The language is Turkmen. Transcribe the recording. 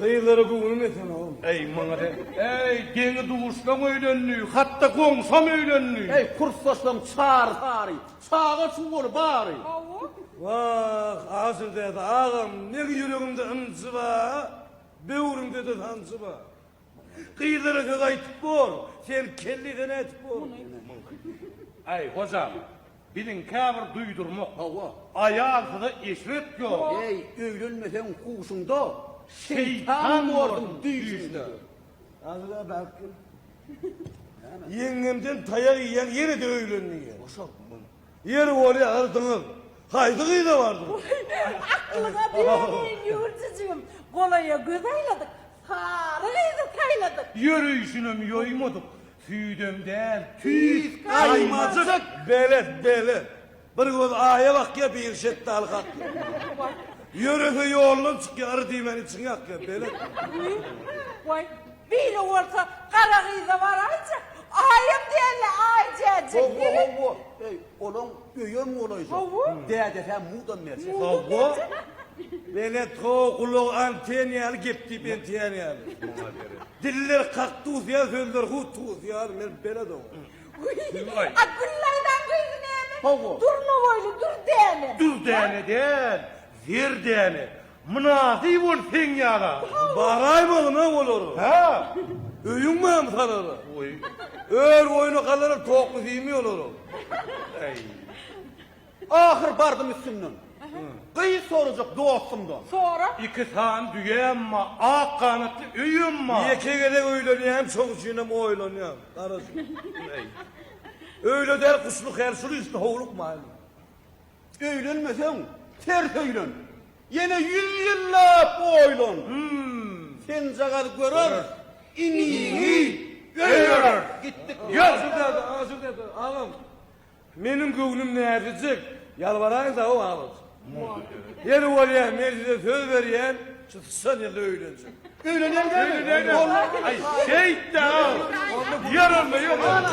Gyzlara göwnüm ýeten ogul. Eý, maňa de. Eý, deňi-duşlaň öýlendi, hat-da goňşam öýlendi. Eý, kursdaşlaň çary-sary, çaga-çugaly bary. Hawa. Wah, Aşyrdäde agam, negi ýüregimde ynjy bar, böwrümde-de sanjy bar. Gyzlara söz aýtyp bor, sen kelli-sene ätip bor. Muny. Eý, hojam. Biziň käbir duýdurmak. Hawa. Aýalsyza eşret ýok. Eý, öýlenmeseň huşuňda, şeýtan bordum düýşüňde. Azyga baryp gel. Näme? Ýeňňemden taýak iýýäň, ýene-de öýlen diýýär. Boşa. Ýeri bolýar, yrdyňyz. Haýsy gyza bardyň? Aklyňa beýemeýin, Ýüwürjijigim. Golaýa göz aýladyk, sary gyzy saýladyk. Ýörüşinem ýoýmadyk, Tüýden däl, tüýs gaýymajyk! Belet, belet. Bir göz aýa bakýa, biri şetdaly kakýa. Ýörese ýoldan çykýa, yr diýmän içiňi ýakýa. Belet. Waý, beýle bolsa gara gyza baraýjy. Aýam däl-le, Aýjäjik. Hawa, hawa. Eý, olaň öýem golaýjak. Hawa. Dädesi-ä mudam merjen. Hawa. Belet, hawa, gulagy anten ýaly, gep diýip entýän ýaly. Muňa gerek. Diller kaktus ýaly sözler hut tuz ýaly men bela dogdum. Güllaý. A Güllaýdan gyzy näme? Hawa. Durna boýly Dürdäne. Dürdäne däl, Zerdäne. Mynasyp bol seň ýala. Baraýma gyna olara. Hä? Öýüň barmy salara? Goý. Ör goýna galara tokly diýme olara. Äý. Ahyr bardym üstünden. Gyz sorajak dostumdan. Sora. Iki sany düýäm bar, ak ganatly öýem bar. Ýeke gezek öýlenýän, şoň üçinem oýlanýan. Garaşyň. Öýle däl, guşluk her şul üsti howluk maýyl. Öýlenmeseň, ters öýlen. Ýene ýüz ýyllap oýlan. Senjagaz görer, iniňi öýlerer. Gitdik. Ýok. Aşyr däde, aşyr däde, agam. Meniň göwnüm näzijik, ýalbaraýyn dagy babat. Ýeri bolýa men size söz berýän, şu syçan ýylda öýlenjek. Öýlenýäňdämi? Aý, şeýtdä-aw. Ýörelme, ýörelme.